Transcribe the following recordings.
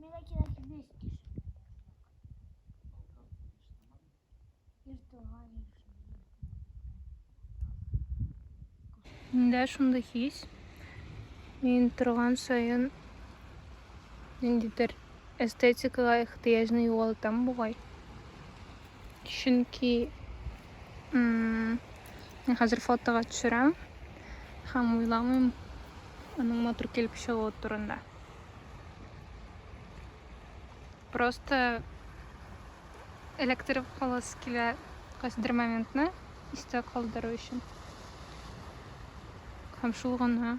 Менә кирәк 200 кеше. Миндә шундый хис. Мин торган саен ниндидер эстетикага ихтыяҗны югалтам бугай. Чөнки мин хәзер фотога төшерәм һәм уйламыйм аның матур килеп чыгуы турында. Просто эләктереп каласы килә кайсыдыр моментны истә калдыру өчен. Һәм шул гына.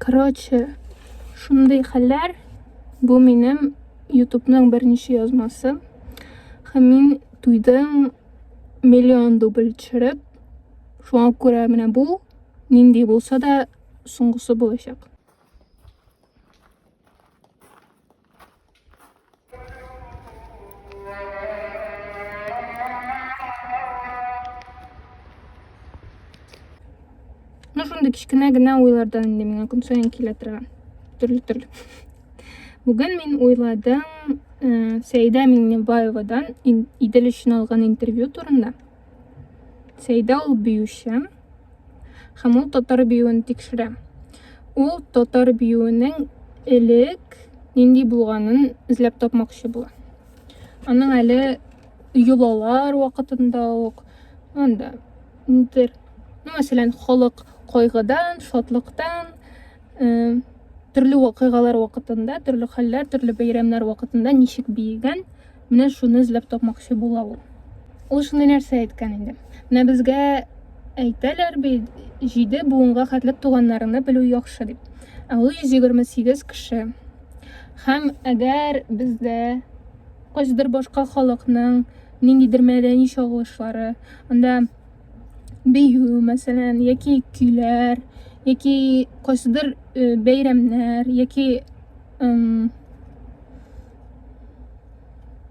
Короче, шундый хәлләр. Бу минем ютубның беренче язмасы. Һәм мин туйдым миллион дубль төшереп. Шуңа күрә менә бу нинди булса да соңгысы булачак. Ну, шунда кичкенә генә уйлардан инде миңа көн саен килә торган. Төрле төрле. Бүген мин уйладым э, Сәйдә Миңнебаевадан Идел өчен алган интервью турында. Сәйдә ул биюче һәм ул татар биюен тикшерә. Ул татар биюенең элек нинди булганын эзләп тапмакчы була. Аның әле йолалар вакытында ук, анда, нидер, ну, мәсәлән, халык кайгыдан, шатлыктан, төрле вакыйгалар вакытында, төрле хәлләр, төрле бәйрәмнәр вакытында ничек биегән, менә шуны эзләп тапмакчы була ул. Ул шундый нәрсә әйткән инде. Менә безгә әйтәләр бит, җиде буынга хәтлек туганнарны белү яхшы дип. Ә ул 128 кеше. Һәм әгәр бездә кайсыдыр башка халыкның ниндидер мәдәни чагылышлары, анда бию мәсәлән яки көйләр яки кайсыдыр э, бәйрәмнәр яки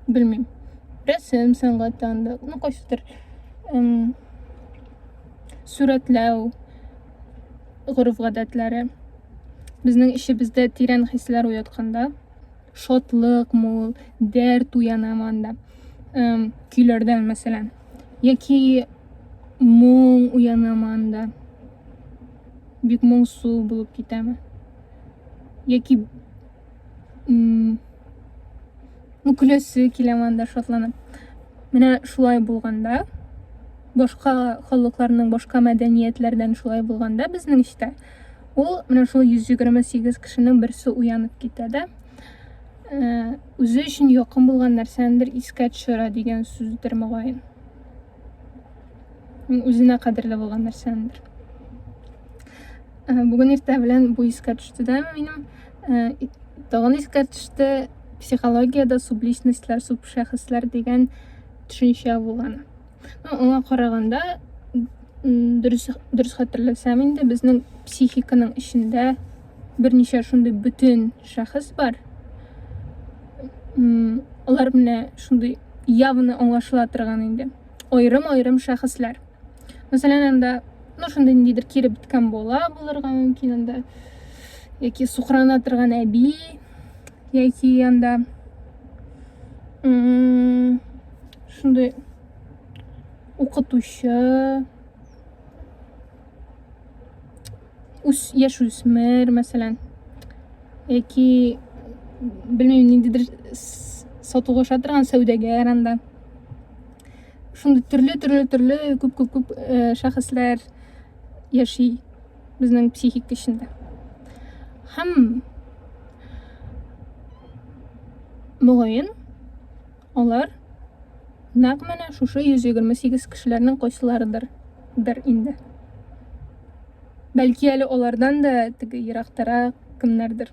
белмим рәсем сәнгатьтән да ну кайсыдыр сурәтләү гореф гадәтләре безнең эчебездә тирән хисләр уятканда Шатлык мул, дәрт уяна манда. Эм, көйләрдән, мәсәлән. Яки моң уяна манда. Бик моңсу булып китәме. Яки ну, көләсе килә манда шатланып. Менә шулай булганда, башка халыкларның, башка мәдәниятләрдән шулай булганда безнең эчтә Ул менә шул 128 кешенең берсе уянып китә дә, э, үзе өчен якын булган нәрсәнедер искә төшерә дигән сүздер мөгаен. Үзенә кадерле булган нәрсәнедер. Э, бүген иртә белән бу искә төште дә минем. Э, тагын искә төште психологиядә субличностьләр, субшәхесләр дигән төшенчә булган. Ну, аңа караганда, дөрес, дөрес хәтерләсәм инде, безнең психиканың эчендә берничә шундый бөтен шәхес бар. Алар менә шундый явны аңлашыла торган инде. Айрым-айрым шәхесләр. Мәсәлән, анда, ну, шундый ниндидер кире беткән бала булырга мөмкин анда. Яки сукрана торган әби, яки анда шундый укытучы үс яшүсмер мәсәлән яки белмим ниндидер сатуга аша торган сәүдәгәр анда шундый төрле төрле төрле күп күп күп шәхесләр яши безнең психик эчендә. Һәм мөгаен алар нәкъ менә шушы 128 кешеләрнең кайсыларыдыр дер инде. Бәлки әле алардан да теге ерактарак кемнәрдер.